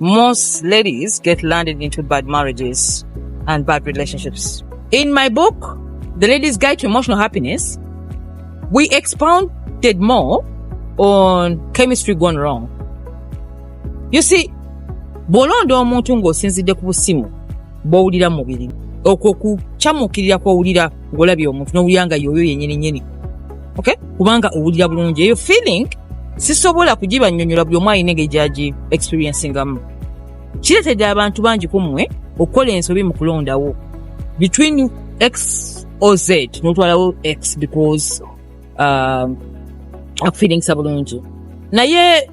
Most ladies get landed into bad marriages and bad relationships. In my book, The Ladies Guide to Emotional Happiness, we expounded more on chemistry gone wrong. You see, bw'olonda omuntu ng'osinzidde ku busimu bw'owulira mu mubiri okwo kukyamukirira kw'owulira ng'olabye omuntu n'owulira nga yoyo yennyini nyini okay kubanga owulira bulungi eyo feeling sisobola kugibanyonyola buli omu alina engeri gyagi experiencingamu kiretedde abantu bangi ku mmwe okukola ensobi mu kulondawo between x o z notwalawo x because um, akufeelingisa bulungi naye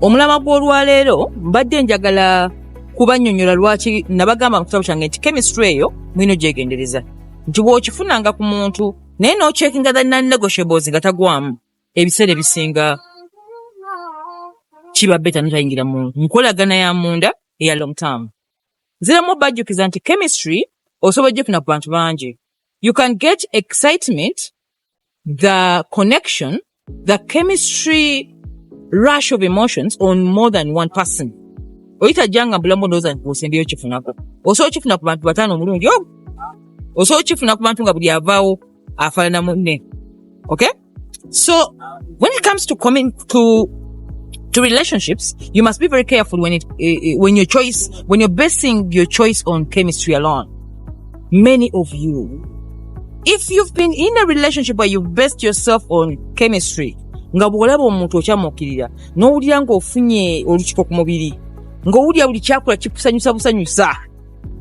omulama gw'olwaleero mbadde njagala kubanyonyola lwaki nabagamba mu kitabo kyange nti chemistry eyo mulina ogyegendereza nti bw'okifunanga ku muntu naye n'ocheckinga the non-negotiables nga tagwamu ebiseera ebisinga kiba beta notayingira mu nkolagana ya munda eya long term ziramu bajjukiza nti chemistry osobola ojjukina ku bantu bangi you can get excitement the connection the chemistry rush of emotions on more than one person oyitajja nga mbulamu ndowooza nti osembeyo kifunako osobola kifuna ku bantu bataano omulungi omu osobola kifuna ku bantu nga buli avaawo afaanana munne okay so when it comes to coming to to relationships you must be very careful when it uh, when your choice when you're basing your choice on chemistry alone many of you if you've been in a relationship where you've based yourself on chemistry nga bw'olaba omuntu okyamuukirira n'owulira ng'ofunye olukiko ku mubiri ng'owulira buli kyakula kikusanyusa busanyusa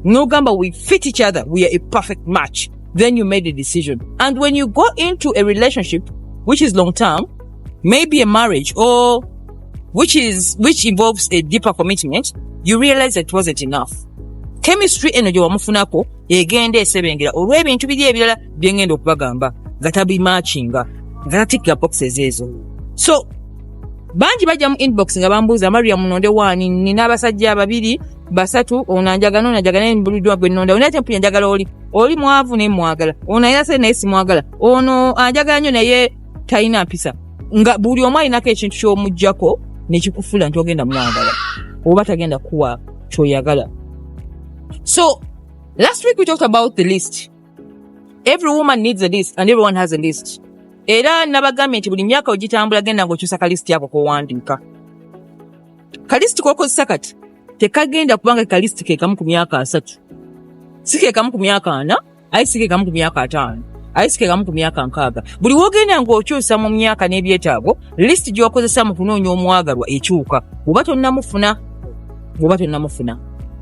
n'ogamba we fit each other we are a perfect match then you made a decision and when you go into a relationship which is long term maybe a marriage or which is which involves a deeper commitment you realize that it wasn't enough chemistry eno gye wamufunako egenda esebengera olw'ebintu biri ebirala bye ngenda okubagamba nga tabimakinga nga tatikkira boxes ezo so bangi bajja mu inbox nga bambuuza maria munonde waani nina abasajja babiri basatu ono anjagana ono anjagana naye mbuliddwa gwe nnonda onaye tempuya njagala oli oli mwavu naye mwagala ono ayina sente naye simwagala ono anjagala nnyo naye talina mpisa nga buli omu alinako ekintu kyomujjako nekikufula nti ogenda mwagala oba tagenda kuwa kyoyagala so last week we talked about the list every woman needs a list and everyone has a list era nabagambye nti buli myaka ogitambula genda ngaokyusa kalisiti ako kowandiika kalisiti kokozesa kati tekagenda kubanga kalisiti kekamu ku myaka asatu si kekamu ku myaka ana aye sikekamu ku myaka ataano aye sikekamu ku myaka nkaaga buli wogenda ng'okyusa mu myaka n'ebyetaago lisiti gy'okozesa mu kunoonya omwagalwa ekyuka oba tonnamufuna oba tonnamufuna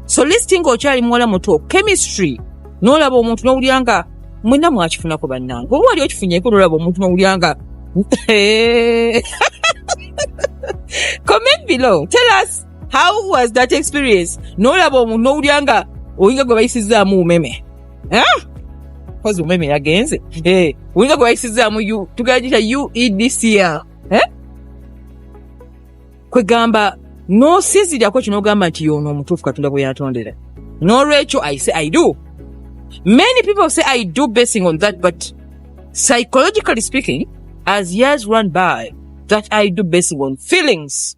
so lisiti ng'okyali muwala muto chemistry n'olaba omuntu n'owulira nga mwena mwakifunako bannange oba wali okifunyeko nolaba omuntu nowulira nga comment below tell us how was that experience nolaba omuntu nowulira nga oyinga gwe bayisizaamu umeme kozi eh? umeme yagenze eh, oyinga gwe bayisizaamu tugera gita uedcl eh? kwegamba nosinzirako kino ogamba nti yono omutuufu katonda bwe yatondera nolwekyo i say i do many people say i do basing on that but psychologically speaking as years run by that i do basing on feelings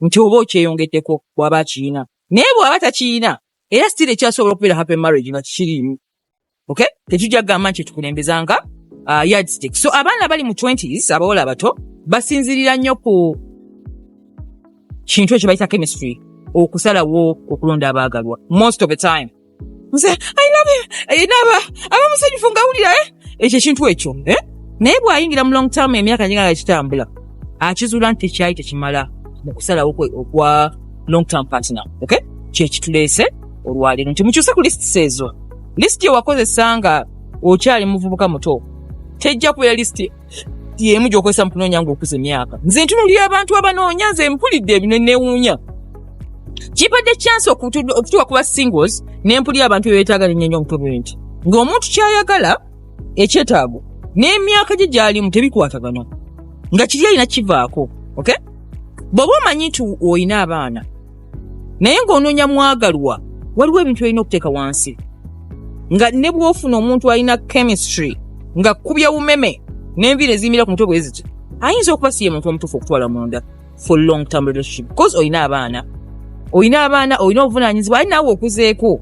nti oba okyeyongeddeko bwaba akiyina naye bwaba takiyina era sitiri ekyasobola okubeera happy marriage nga kikiriimu okay tetujja kugamba nti tukulembeza nga uh, yardstick so abaana bali mu 20s abawala abato basinzirira nnyo ku kintu ekyo bayita chemistry okusalawo okulonda abaagalwa most of the time nze ayinabe ayina aba abamusanyufu ngawulira eh? ekyo ekintu ekyo eh? naye bw'ayingira mu long term emyaka gigala kitambula akizuula nti tekyali tekimala mu kusalawo kwe okwa long term partner ok kyekituleese olwaleero nti mukyuse ku lists ezo lisiti ewakozesa nga okyali muvubuka muto tejja kubeera lisiti yemu gyokozesa mukunoonya nga okuza emyaka nze ntunulira abantu abanoonya nze mpulidde ebino newuunya kibadde kyansi okutuwa kuba singles nempulira abantu bebetaaga nenyenyo omutwe nti ng'omuntu kyayagala ekyetaago n'emyaka gye gyalimu tebikwatagana nga kiri alina kivaako okay bw'oba omanyi nti olina abaana naye ng'onoonya mwagalwa waliwo ebintu olina okuteeka wansi nga ne bwofuna omuntu alina chemistry nga kubya umeme n'enviira eziyimira ku mutwe bwe ziti ayinza okuba si ye muntu omutuufu okutwala munda for long term relationship bcause olina abaana olina abaana olina obuvunaanyizibwa ali naawe okuzeeko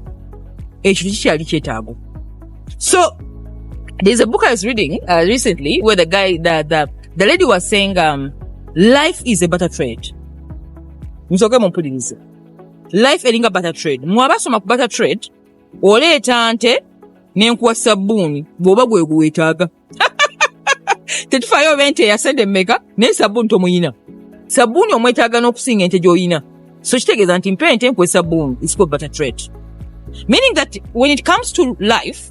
ekyo kikyali kyetaago so there's a book i was reading uh, recently where the guy the, the, the lady was saying um, life is a butter trade nsoke mumpulirize life eringa butter trade mwabasoma ku butter trade oleeta nte nenkuwa sabbuuni bwoba gwe guwetaaga tetufayo oba ente yasente meka naye sabbuuni tomuyina sabbuuni omwetaaga n'okusinga ente gy'oyina so kitegeeza nti mpa ente nkuwa esabbuuni isiko butter trade meaning that when it comes to life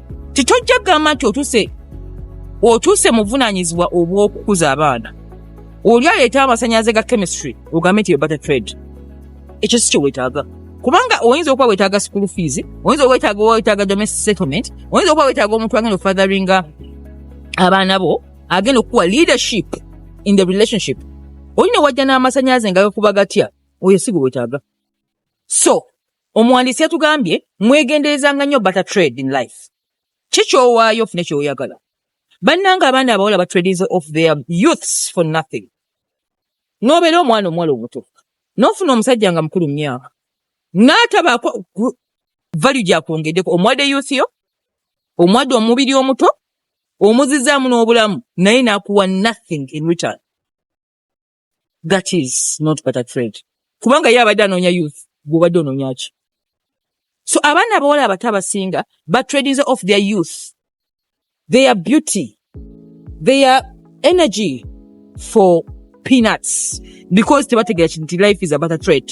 titojja kugamba nti otuse otuuse muvunanyizibwa obw'okukuza abaana oli aleeta amasanyalaze ga chemistry ogambe nti ebata trade ekyo si kyewetaaga kubanga oyinza okuba wetaaga school fees oyinza wetaaga wetaaga domestic settlement oyinza okuba wetaaga omuntu agenda ofatheringa abaana bo agenda okukuwa leadership in the relationship olina wajja n'amasanyalaze nga gakuba gatya oyo si gwe wetaaga so Omuwandiisi yatugambye mwegenderezanga nnyo butter trade in life. Ki ky'owaayo ofune ky'oyagala. Bannange abaana abawala batradinze off their youths for nothing. N'obeera omwana omuwala omuto n'ofuna omusajja nga mukulu mu myaka n'atabaako value gyakwongeddeko omuwadde youth yo omuwadde omubiri omuto omuzizaamu n'obulamu naye n'akuwa nothing in return. that is not but a trade kubanga ye abadde anoonya youth gwobadde onoonya ki so abaana abawala abato abasinga batradinze off their youth their beauty their energy for peanuts because tebategera kinti life is about a trade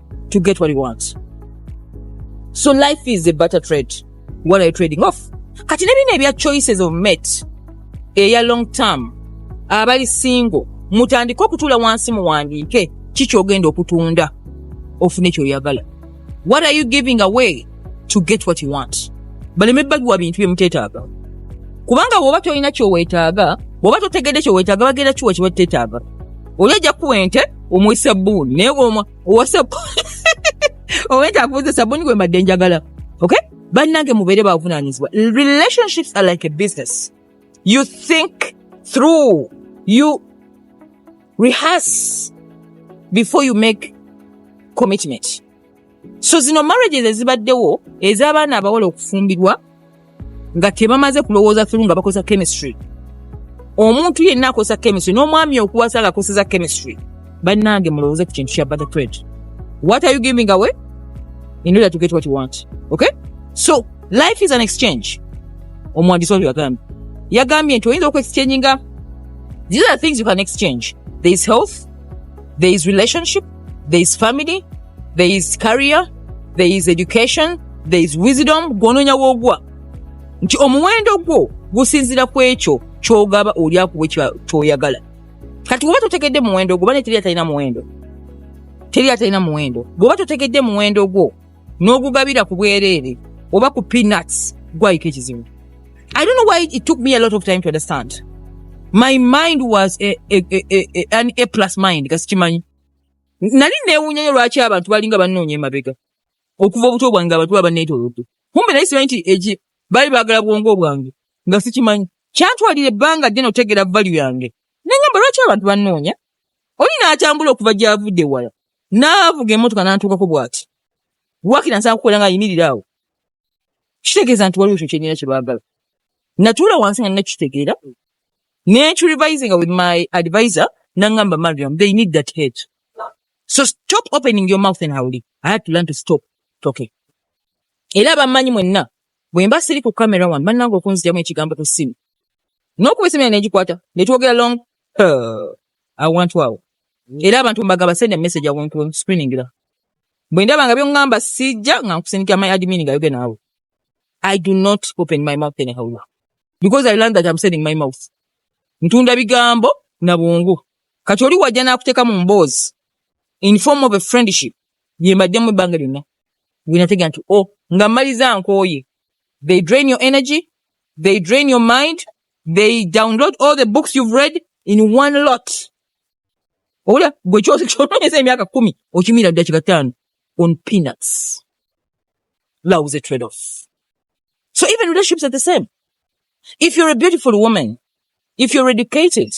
to get what you want so life is a butter trade what are you trading off kati nebino ebya choices of met eya long term abali single mutandike okutula wansi muwandiike kikyogenda okutunda ofune kyoyagala what are you giving away to get what you want baleme bagiwa bintu byemutetaaga kubanga woba tolina kyowetaaga woba totegedde kyowetaaga bagenda kiwa kibatetaaga oli ajja kuwa ente omuwe sabbuuni naye woma owa sabbuuni owa ente akuuza sabbuuni gwe mbadde njagala ok bannange mubeere bavunaanyizibwa relationships are like a business you think through you rehearse before you make commitment so zino marriages ezibaddewo ez'abaana abawala okufumbirwa nga tebamaze kulowooza through nga bakozesa chemistry omuntu yenna akozesa chemistry n'omwami okuwasa nga akozesa chemistry bannange mulowooze ku kintu kya butter trade what are you giving away in order to get what you want okay so life is an exchange omuwandiisi oyo yagambye yagambye nti oyinza okuexchanginga these are things you can exchange there is health there is relationship there is family there is career there is education there is wisdom gwononya wogwa nti omuwendo gwo gusinzira ku ekyo kyogaba oli akuwa kyoyagala kati oba totegedde muwendo gwo bane teri atalina muwendo teri atalina muwendo bwoba totegedde muwendo gwo n'ogugabira ku bwereere oba ku peanuts gwayiko ekizibu i don't know why it took me a lot of time to understand my mind was a, a, a, a, a, an a plus mind kasi kimanyi nali newunyanyo lwaki abantu balinga bannoonya emabega okuva obuto bwange abantu baba neetolodde kumbe naye simanyi nti eki baali baagala bwongo bwange nga sikimanyi kyantwalira ebbanga ddene otegeera valu yange nengamba lwaki abantu bannoonya oli n'atambula okuva gy'avudde wala n'avuga emmotoka n'antuukako bw'ati wakira nsaba kukolera nga ayimirira awo kitegeeza nti waliwo ekyo kyenina kye baagala natuula wansi nga nakitegeera nencurevisinga with my advisor nangamba mariam they need that head so stop opening your mouth and howli i had to learn to stop talking era bammanyi mwenna bwe mba siri ku camera one bannanga okunzijamu ekigambo ku ssimu n'okuba esimira negikwata ne twogera long awantu awo era abantu mbagaba send a message awo nkuwe screening la bwe ndaba nga byongamba sijja nga nkusindika my admin nga yoge naawe i do not open my mouth in anyhow because i learned that i'm sending my mouth ntunda bigambo na bwongo kati oli wajja n'akuteeka mu mboozi in form of a friendship ye mbaddemu ebbanga lyonna wenatega nti o oh, nga mmaliza nkooye they drain your energy they drain your mind they download all the books you've read in one lot Ola gwe kyose kyotonyeza emyaka kumi okimira dakika tano on peanuts. That was a trade off. So even relationships are the same. If you're a beautiful woman, if you're educated,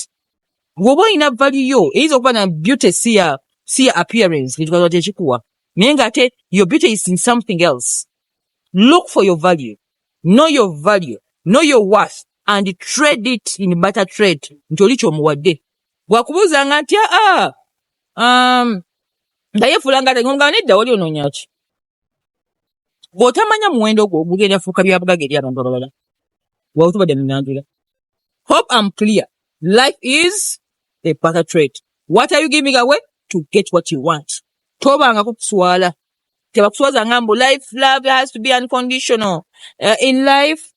woba olina value yo eyinza okuba na beauty si ya si ya appearance ngetukaza tekikuwa naye nga ate your beauty is in something else. Look for your value. Know your value. Know your worth and trade it in butter trade nti oli kyomuwadde wakubuuza nga nti aa ah, ah, um, nga yefuula nga nga nedda wali onoonyaki bw'otamanya muwendo gwo ogugenda fuuka byabugaga eri abantu abalala wawe tubadde munanjula hope am clear life is a butter trade what are you giving away to get what you want tobanga kukuswala tebakuswaza nga mbu life love has to be unconditional uh, in life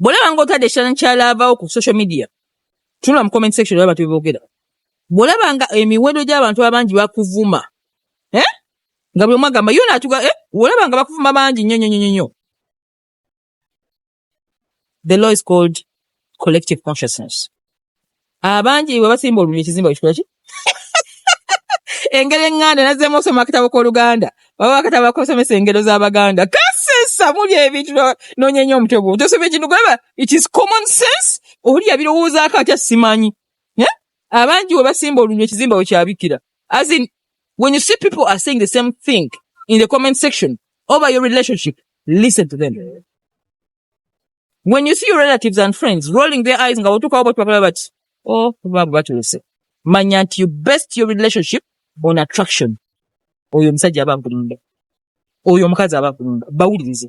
bwolaba nga otadde ekifananyi kya laavawo ku social media tunula mu comment section olaba tebogera bwolaba nga emiwendo gy'abantu abangi bakuvuma eh? nga buli omu agamba yo natuga eh? bwolaba nga bakuvuma bangi nnyo nnyo nnyo nnyo the law is called collective consciousness abangi bwe basimba olulimi ekizimba kikula ki engero enganda nazzemu osoma akatabo k'oluganda baba akatabo akosomesa engero z'abaganda kasesa muli ebintu noonya nnyo omutwe gwo tosoma ekintu gweba it is common sense oli yabirowoozaako atya simanyi eh? abangi we basimba olulimi ekizimba we kyabikira as in when you see people are saying the same thing in the comment section over your relationship listen to them when you see your relatives and friends rolling their eyes nga otukawo botwabala bati oh babu batulese manya nti you best your relationship on attraction oyo omusajja aba nkulumba oyo omukazi aba nkulumba bawulirize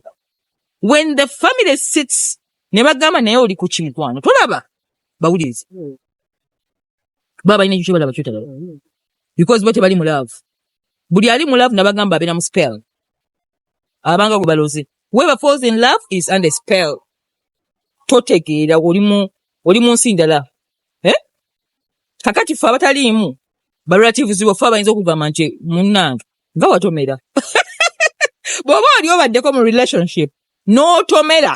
when the family sits ne bagamba naye oli ku kimikwano tolaba bawulirize hmm. baba balina ekyo kyebalaba kyotalaba hmm. because bo tebali mu love buli ali mu love nabagamba abeera mu spell abanga gwe baloze whoever falls in love is under spell totegeera oli mu oli mu nsi ndala eh? kakati ffe abataliimu barelatives baffe abayinza okugamba nti munnange nga watomera bw'oba oli obaddeko mu relationship n'otomera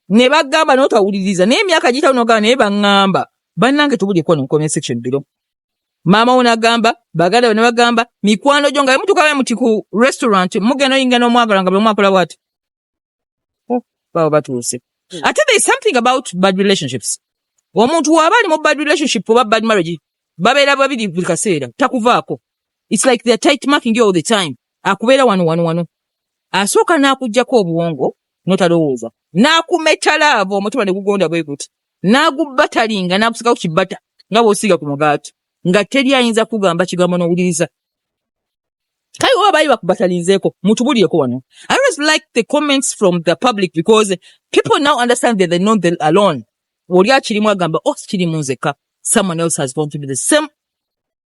ne bagamba n'otawuliriza naye emyaka gitawo nogamba naye baŋŋamba bannange tubulyeko nenkomya section biro maama wo nagamba baganda be nebagamba mikwano gyo nga bemutuuka be muti ku restaurant mugenda oyingira n'omwagala nga bwemwakola bwati oh, baba batuuse hmm. ate there is something about bad relationships omuntu waaba ali mu bad relationship oba bad marriage babeera babiri buli kaseera takuvaako its like theyare tight marking all the time akubeera wano wano wano asooka n'akugjako obuwongo notalowooza n'akumetala avo omutima ne gugonda bwe guti n'agubbatalinga n'agusiigako kibbata nga bw'osiiga ku mugaati nga teri ayinza kugamba kigambo n'owuliriza kale oba baali bakubbatalinzeeko mutubulireko wano i always like the comments from the public because people now understand that they're not the alone oli akirimu agamba oh kirimu nzekka someone else has gone through the same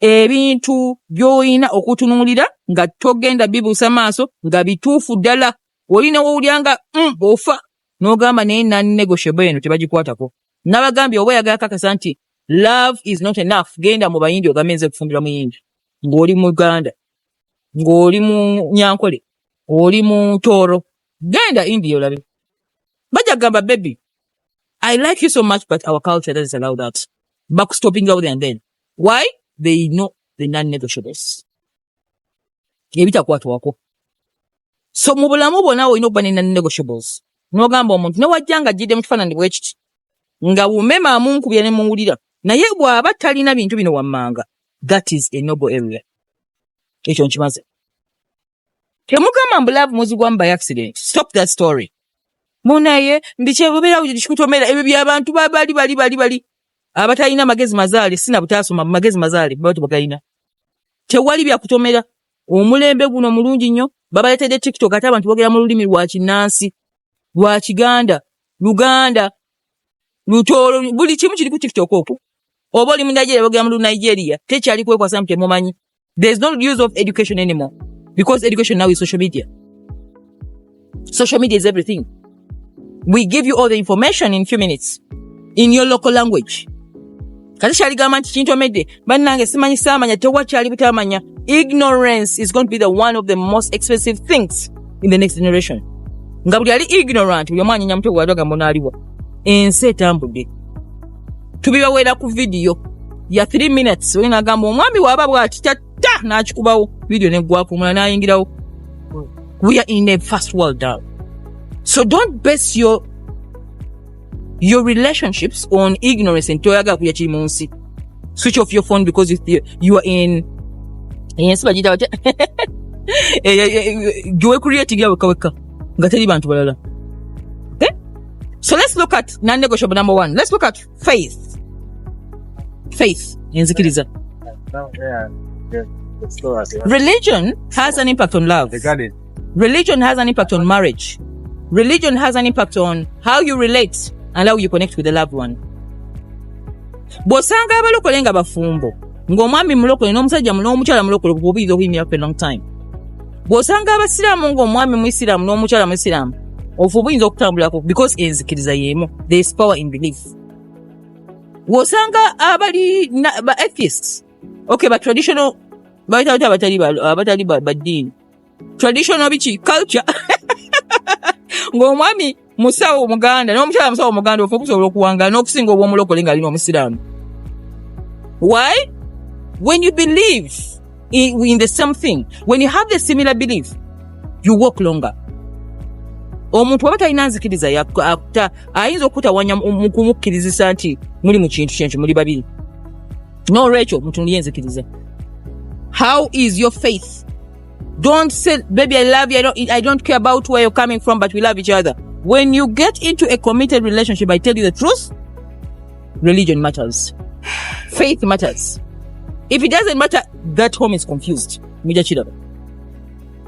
ebintu by'olina okutunuulira nga togenda bibuusa maaso nga bituufu ddala olina wowulira nga mm, ofa n'ogamba naye nannegoshebo eno tebagikwatako nabagambye oba oyagala kakasa nti love is not enough genda mu bayindi ogambe nze kufumbira muyindi ng'oli muganda ng'oli mu nyankole oli mu tooro genda india olabe bajja kugamba bebi I like you so much, but our culture doesn't allow that. Back stopping out and then. Why? They know the non-negotiables. Ebitakwatwako. So mu bulamu bwonna olina okuba ne non-negotiables. N'ogamba omuntu newajja nga ajjidde mu kifaananyi bwe kiti nga wumema amunkubira ne muwulira naye bw'aba talina bintu bino wammanga that is a noble area. Ekyo nkimaze. Temugamba mbu love muzigwamu by accident. Stop that story. Munaye ndikyebubira kikutomera ebyo byabantu babali bali bali bali abatalina amagezi mazaale sina butaasoma mu magezi mazaale baba tebagalina. Tewali bya kutomera omulembe guno mulungi nnyo babaleetedde TikTok ate abantu boogera mu lulimi lwa kinnansi lwa Kiganda Luganda Lutooro buli kimu kiri ku TikTok okwo. Oba oli mu Nigeria boogera mu Nigeria tekyali kwekwasa nti temumanyi. There's no use of education anymore because education now is social media. Social media is everything. We give you all the information in few minutes in your local language. kati kyaligamba nti kintomedde bannange simanyi saamanya tewakyali butamanya ignorance is going to be the one of the most expensive things in the next generation nga buli ali ignorant buli omu anyenya mutwe gwadagamba onaaliwa ensi etambudde tubibawera ku vidiyo ya 3 minutes oyo nagamba omwami waba bwati tatta nakikubawo vidiyo negwako omula nayingirawo we are in a first world down so don't base your your relationships on ignorance and toyaga kuya kiri munsi switch off your phone because you, you are in ensi bagiyita batya gyewekulira etigya wekaweka nga teri bantu balala so let's look at non-negotiable number one let's look at faith faith enzikiriza religion has an impact on love religion has an impact on marriage religion has an impact on how you relate and how you connect with the loved one bw'osanga abalokole nga bafumbo ng'omwami mulokole n'omusajja n'omukyala mulokole obubiri obuyimira for a long time bw'osanga abasiraamu ng'omwami muisiraamu n'omukyala muisiraamu ofu oba oyinza okutambulako because enzikiriza y'emu there is power in belief bw'osanga abali ba atheists okay ba traditional baitawoti abatali abatali baddiini traditional biki culture ng'omwami musawo omuganda n'omukyala musawo omuganda ofa okusobola okuwangala n'okusinga obw'omulokole nga alina omusiraamu why when you believe in, in the same thing when you have the similar belief you walk longer omuntu waba talina nzikiriza yakuta ayinza okutawanya mukumukkirizisa nti muli mu kintu kyenki muli babiri nolwekyo mutunulye enzikiriza how is your faith Don't say, baby, I love you. I don't, I don't care about where you're coming from, but we love each other. When you get into a committed relationship, I tell you the truth, religion matters. Faith matters. If it doesn't matter, that home is confused. Muja chidaba.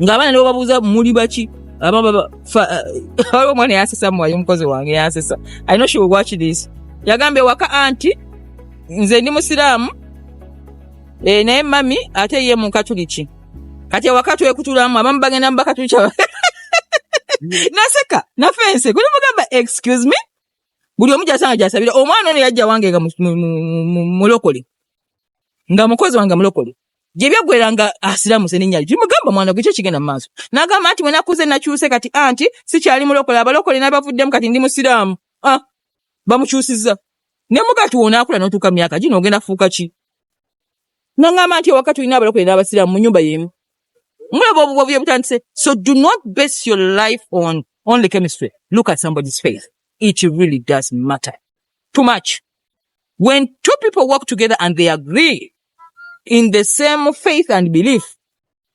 Ngabana leo babuza muli bachi. Aba baba fa aba mwana yasesa mwa yumkozi wange yasesa. I know she will watch this. Yagambe waka auntie nze ndi musiramu Eh, naye mami ate ye mukatuliki kati ewaka twekutulamu abamu bagenda mubakatuliki naseka nafense guli mugamba excuse me buli omu gyasanga gyasabira omwana ono yajja wange nga mulokole nga mukozi wange mulokole gyebyagwera nga asiramuse nenyali kimugamba mwana gwe kyekigenda mumaaso nagamba nti wenakuze nakyuse kati anti sikyali mulokole abalokole nabavuddemu kati ndi musiraamu ah, bamukyusiza nemugati wonakula notuuka myaka gino ogenda fuuka ki nangamba nti ewaka tulina abalokole n'abasiraamu mu nyumba yemu mulaba obuwabuya butandise so do not base your life on only chemistry look at somebody's face it really does matter too much when two people work together and they agree in the same faith and belief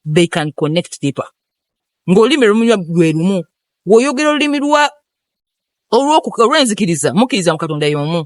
they can connect deeper ng'olulimi lumunywa lwe lumu woyogera olulimi lwa olw'enzikiriza mukkiriza mu katonda y'omu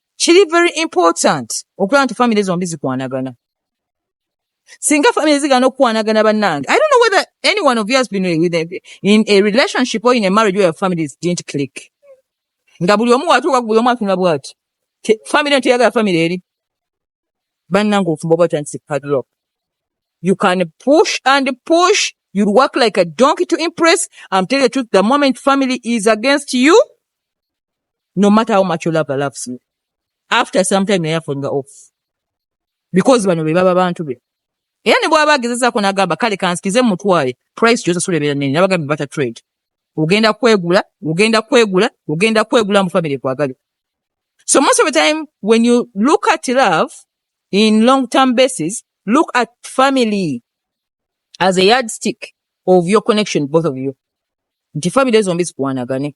kiri very important okulaba nti famire zombi zikwanagana singa famire zigana okukwanagana bannange i don't know whether any one of you has been with a, in a relationship or in a marriage where your families didn't click nga buli omu watuuka buli omu atunula bwati famire nti yagala famire eri bannange ofumba oba otandise padlock you can push and push you work like a donkey to impress i'm telling you the truth the moment family is against you no matter how much your lover loves you after some time naye afunga off because bano be baba bantu be era ne bwaba agezezaako nagamba kale kansikize mutwale price gyosasula ebeera nene nabagambe bata trade ogenda kwegula ogenda kwegula ogenda kwegula mu family kwagale so most of the time when you look at love in long term basis look at family as a yardstick of your connection both of you nti family zombi zikuwanagane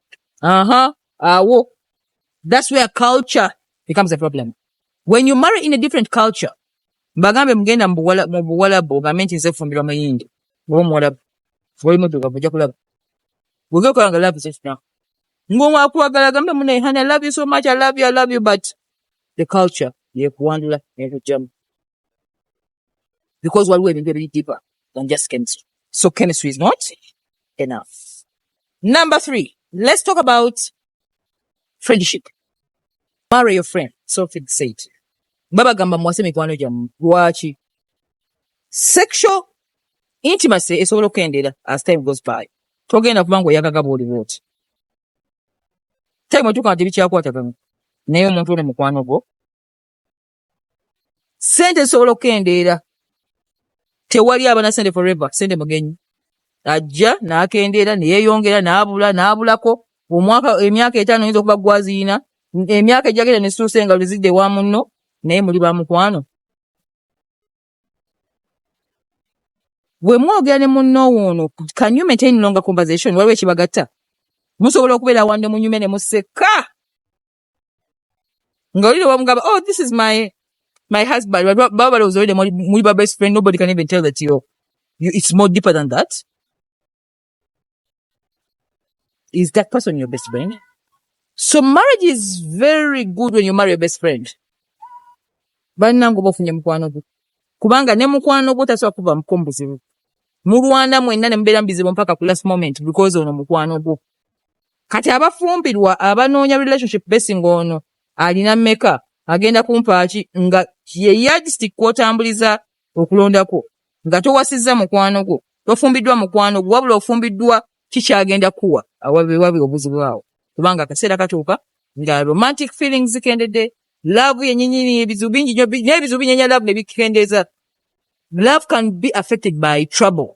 Uh-huh. Awo. That's where culture becomes a problem. When you marry in a different culture, bagambe mugenda mu Buwalabu ogambe nti nze fumbirwa Muyindi oba Omuwalabu oli muddugavu ojja kulaba wege okola nga love is now ng'owakwagala agambe mune honey I love you so much I love you I love you but the culture yekuwandula nekujjamu because waliwo ebintu ebiri deeper than just chemistry so chemistry is not enough number three let's talk about friendship marry your friend so fig said babagamba muwase mikwano gyammwe lwaki sexual intimacy esobola okukendeera as time goes by togenda kuba ngaoyagaga bwoli bwoti time otuuka nga tebikyakwatagana naye omuntu ono mukwano gwo sente zisobola okukendeera tewali abana sente forever sente mugenyi ajja nakendeera neyeyongera nabula nabulako omwaka emyaka etaano yinza okuba gwaziyina emyaka ejagenda nesituusa engalo zidde wa munno naye muli ba mukwano bwe mwogera ne munno woono can you maintain longer conversation waliwo ekibagatta musobola okubeera wande munyume ne museka nga olire wamugamba oh this is my my husband baba balowooza olire muli ba best friend nobody can even tell that you, you it's more deeper than that is that person your best friend so marriage is very good when you marry your best friend bannange oba ofunye mukwano gwe kubanga ne mukwano gwo tasobola kuva mukombuzibu mulwana mwenna ne mubeera mu bizibu mpaka ku last moment because ono mukwano gwo kati abafumbirwa abanoonya relationship besi ng'ono alina meka agenda kumpaaki nga ye yardstick kwotambuliza okulondako nga towasizza mukwano gwo tofumbiddwa mukwano gwo wabula ofumbiddwa kikyagenda kuwa awabewabe obuzibu awo kubanga akaseera katuuka nga romantic feelings zikendedde love yenyinyini ebizibu bingi nyo n'ebizibu binyenya love nebikendeeza love can be affected by trouble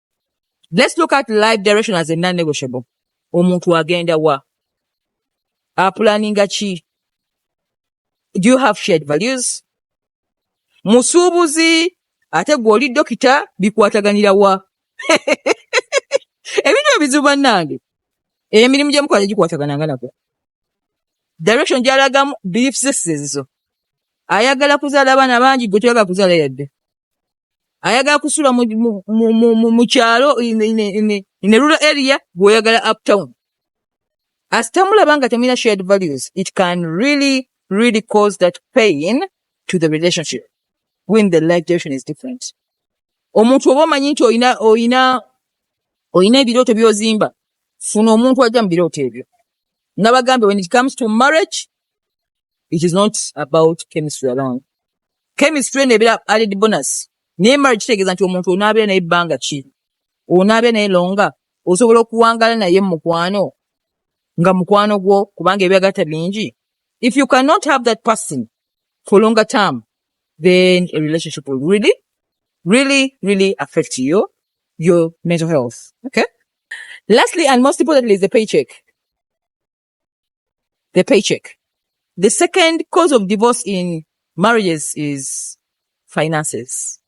let's look at life direction as a non negotiable omuntu agenda wa apulaninga ki do you have shared values musuubuzi ate gwe oli dokita bikwataganira wa ebintu ebizibu bannange emirimu gye mukola tegikwatagananga nako direction gyalagamu belief systems zo ayagala kuzaala abaana bangi gwe toyagala kuzaala yadde ayagala kusula mu kyalo in a rural area gweoyagala uptown asitamulaba nga temulina shared values it can really really cause that pain to the relationship when the life direction is different omuntu oba omanyi nti oyina oyina oyina ebirooto byozimba funa omuntu ajja mu birooto ebyo nabagambe when it comes to marriage it is not about chemistry alone chemistry eno ebeera added bonus naye marriage kitegeeza nti omuntu onaabeera naye ebbanga ki onaabeera naye longa osobola okuwangala naye mu mukwano nga mukwano gwo kubanga ebyagatta bingi if you cannot have that person for longer term then a relationship will really really really affect you your mental health okay lastly and most importantly is the paycheck the paycheck. The second cause of divorce in marriages is finances.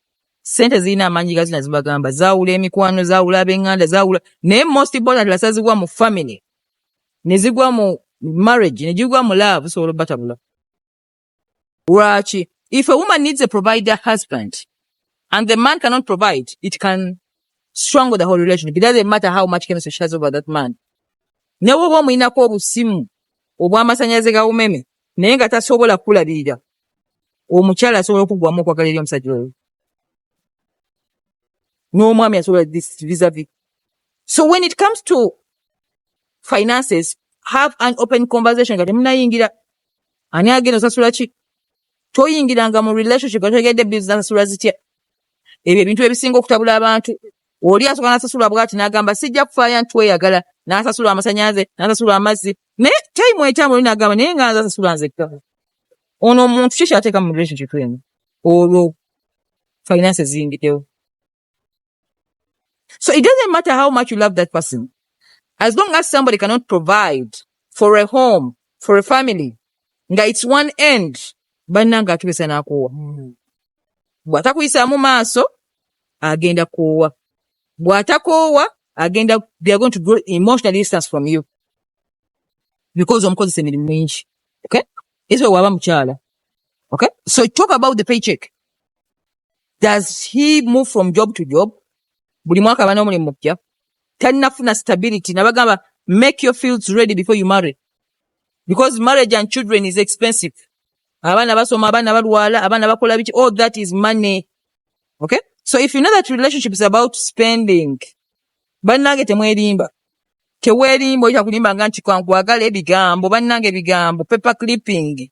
Sente zirina amaanyi gazina zibagamba zaawula emikwano zaawula ab'enganda zaawula naye most important lasazibwa mu family ne zigwa mu marriage ne gigwa mu love osobola obatabula Lwaki? If a woman needs a provider husband and the man cannot provide, it can strangle the whole relationship. It doesn't matter how much chemistry she has over that man. Ne woba omulinako obusimu obw'amasannyalaze ga umeme naye nga tasobola kukulabirira omukyala asobola okuggwamu okwagala eri omusajja oyo n'omwami asobola visavi so when it comes to finances have an open conversation nga temunayingira ani agenda osasula ki toyingiranga mu relationship otegedde bills nasasula zitya ebyo ebintu ebisinga okutabula abantu oli asoka nasasula bwati nagamba sijja kufaya nti weyagala nasasula amasanyaze nasasula amazzi naye time etamu oli nagamba naye nga nasasula nzekka ono omuntu kiki ateeka mu relationship eno olwo finance ziyingidewo So it doesn't matter how much you love that person. As long as somebody cannot provide for a home, for a family, nga it's one end, bannanga atubisa n'akoowa. Hmm. Bw'atakuyisaamu maaso, agenda koowa. Bw'atakoowa, agenda, they are going to grow emotional distance from you. Because omukozesa emirimu mingi. Okay? Ekyo waba mukyala. Okay? So talk about the paycheck. does he move from job to job buli mwaka bana omulimu mupya talinafuna stability nabagamba make your fields ready before you marry because marriage and children is expensive abaana basoma abaana balwala abaana bakola biki all that is money okay so if you know that relationship is about spending bannange temwerimba tewerimba oyita kulimbanga nti kankwagala ebigambo bannange ebigambo paper clipping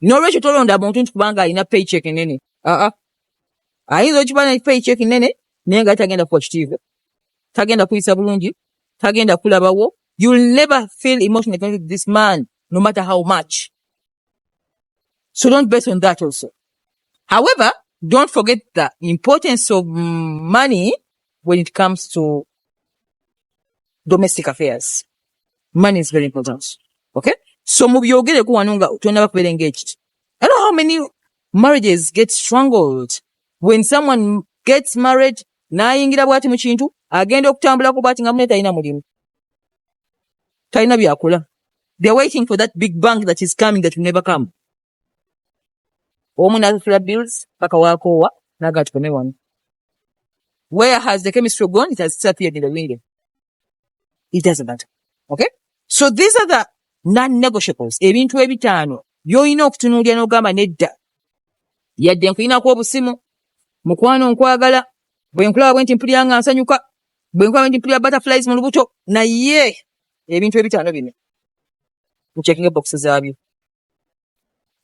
nolwekyo tolonda muntu nti kubanga alina paycheck nene aa ayinza okiba ne paycheck nene naye nga tagenda kuwa kitiibwa tagenda kuyisa bulungi tagenda kulabawo you'll never feel emotional to this man no matter how much so don't base on that also however don't forget the importance of money when it comes to domestic affairs money is very important okay so mubyogereko wano nga tonaba kubeera engaged i know how many marriages get strangled when someone gets married nayingira bwati mu kintu agenda okutambulako bwati nga mune talina mulimu talina byakola they're waiting for that big bank that is coming that will never come omu nasasula bills paka wakoowa naga tukome wano where has the chemistry gone it has disappeared in the window it doesn't matter okay so these are the non-negotiables ebintu ebitaano byolina okutunuulira n'ogamba nedda yadde nkulinako obusimu mukwano nkwagala bwe nkulaba bwe nti mpulira nga nsanyuka bwe nkulaba nti mpulira butterflies mu lubuto naye ebintu ebitaano bino ncekinga ebokisi zaabyo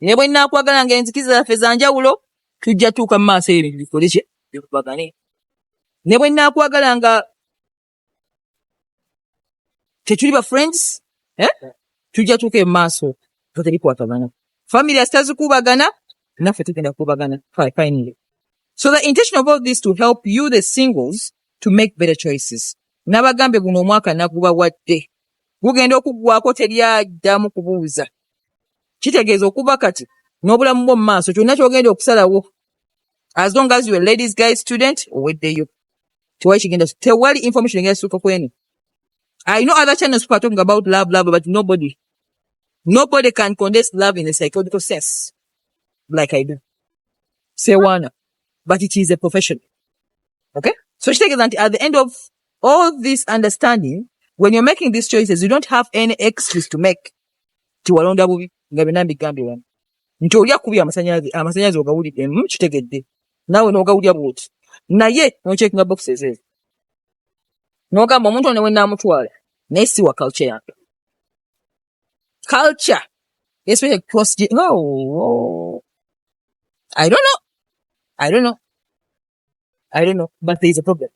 ne bwe naakwagala nga enzikiza zaffe za njawulo tujja tuuka mu maaso eyo ebintu bikole kye bikubagane ne bwe naakwagala nga tetuli ba friends eh? tujja tuuka emu maaso nga tebikwatagana family asitazikubagana naffe tugenda kukubagana finally so the intention of all this to help you the singles to make better choices nabagambye guno omwaka nagubawadde gugenda okuggwako teri addamu kubuuza kitegeeza okuva kati n'obulamu bwo mu maaso kyonna kyogenda okusalawo as long as your ladies guy student oweddeyo tewali kigenda tewali information egenda kisuuka kwenu i know other channels people are talking about love love but nobody nobody can condense love in a psychological sense like i do sewana but it is a profession okay so kitegeeza nti at the end of all this understanding when you're making these choices you don't have any excuse to make nti walonda bubi nga byonna mbigambye wano nti olya kubi amasanyalaze amasanyalaze ogawulidde mm, kitegedde naawe n'ogawulya bwoti naye nochekinga boxes ezo n'ogamba omuntu ono wenaamutwala naye si wa culture yange culture especially cross oh, oh. i don't know i don't know I don't know, but there is a problem.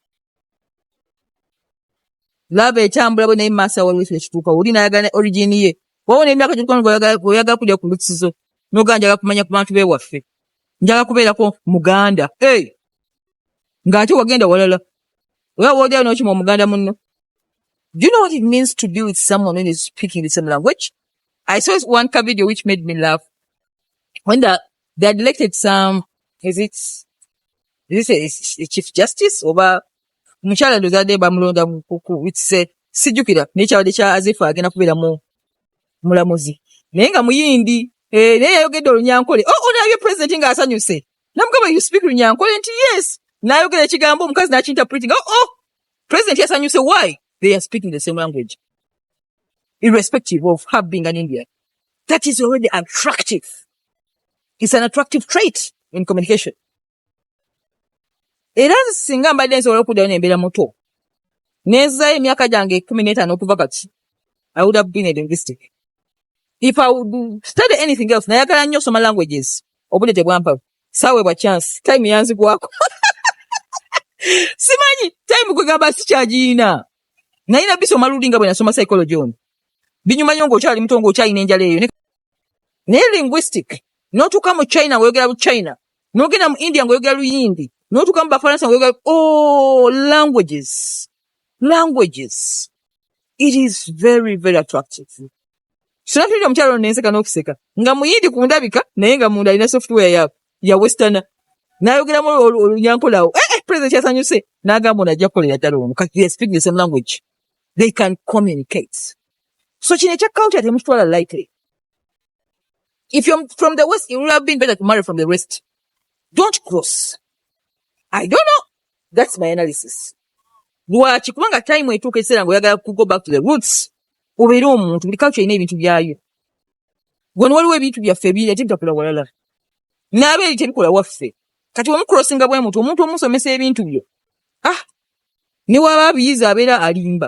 Love etambula bwe naye maasa waliwo ekyo ekituuka oli n'ayagala origin ye wawo n'emyaka gyokukono oyagala kulya ku lusizo n'ogaa njagala kumanya ku bantu bewaffe njagala kubeerako muganda hey! ng'ate wagenda walala oba woogera n'okima omuganda munno Do you know what it means to be with someone who is speaking the same language? I saw one video which made me laugh. When the they had elected some is it is it a, a chief justice oba omukyala ndoza de bamulonda mukuku it's a sijukira naye kyabadde kya azifa agenda kubeera mu mulamuzi naye nga muyindi eh, naye yayogedde olunyankole oh, oh, nabye president nga asanyuse namugamba you speak lunyankole nti yes nayogera ekigambo omukazi nakinterpreting oh, oh, president yasanyuse why they are speaking the same language irrespective of her being an indian that is already attractive is an attractive trait in communication era singa mbadde nsobola okuddayo nembeera muto nezayo emyaka gyange ekumi n'etaano okuva kati i would have been a linguistic if i would study anything else nayagala nnyo osoma languages obudde tebwampa saweebwa chance time yanzigwako simanyi time kwegamba sikyagiyina naye nabisoma luli nga bwe nasoma psychology ono binyuma nyo ng'okyali muto ng'okyalina enjala eyo naye linguistic notuuka mu china ngaoyogera lu china nogenda mu india ngaoyogera luyindi notuuka mu bafaransa ngaoyogera oh, languages languages it is very very attractive sinatulira omukyalo ono nenseka nokuseka nga muyindi ku ndabika naye nga munda alina software ya, ya westerna nayogeramu olunyankolawo eh, eh, president kyasanyuse nagamba ono ajja kukolera ddala omu kati they speak the same language they can communicate so kino ekya culture temukitwala lightly if you're from the west you would have been better to marry from the west don't cross i don't know that's my analysis lwaki kubanga time etuuka ekiseera nga oyagala kugo back to the roots obeere omuntu buli culture erina ebintu byayo gwano waliwo ebintu byaffe ebiri ate bitakola walala naaba eri tebikola waffe kati wemukulosinga bwe mutu omuntu omusomesa ebintu byo ah ne waba abiyiza abeera alimba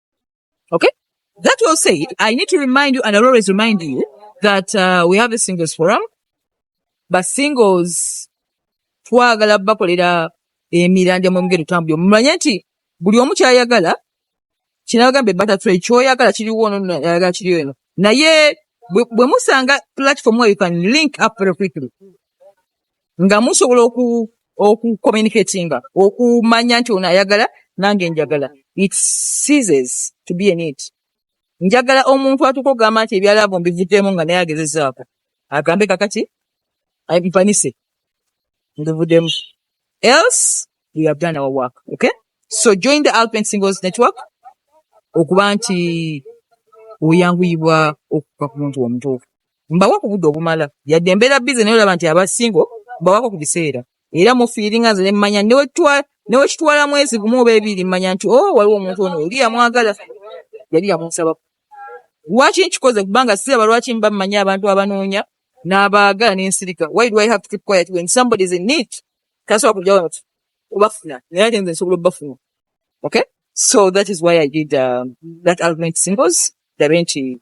Okay? That will say, I need to remind you, and I'll always remind you, that uh, we have a singles forum, but singles twagala bakolera emiranja mu mugendo tambuli omumanye nti buli omu kyayagala kinagambe butterfly kyoyagala kiriwo ono ayagala kiriwo eno naye bwe musanga platform where you can link up very quickly nga musobola oku okucommunicatinga okumanya nti ono ayagala nange njagala it seases to be an it njagala omuntu atuka okugamba nti ebyalabo mbivuddemu nga naye agezezaako agambe kakati mpanise mbivuddemu else we have done our work okay so join the alpen singles network okuba nti oyanguyibwa okuka ku muntu omutuufu mbawa ku budde obumala yadde mbeera bize naye olaba nti aba singo mbawako ku biseera era mufiiringa nze nemmanya newekitwala mwezi gumu oba ebiri mmanya nti o oh, waliwo omuntu ono oli yamwagala yali yamunsabako lwaki nkikoze kubanga siraba lwaki mba mmanyi abantu abanoonya n'abaagala n'ensirika why do i have to keep quiet when somebody is in need tasobola kujawo nti obafuna naye ate nze nsobola obafuna okay so that is why i did um, that argument singles ndabe nti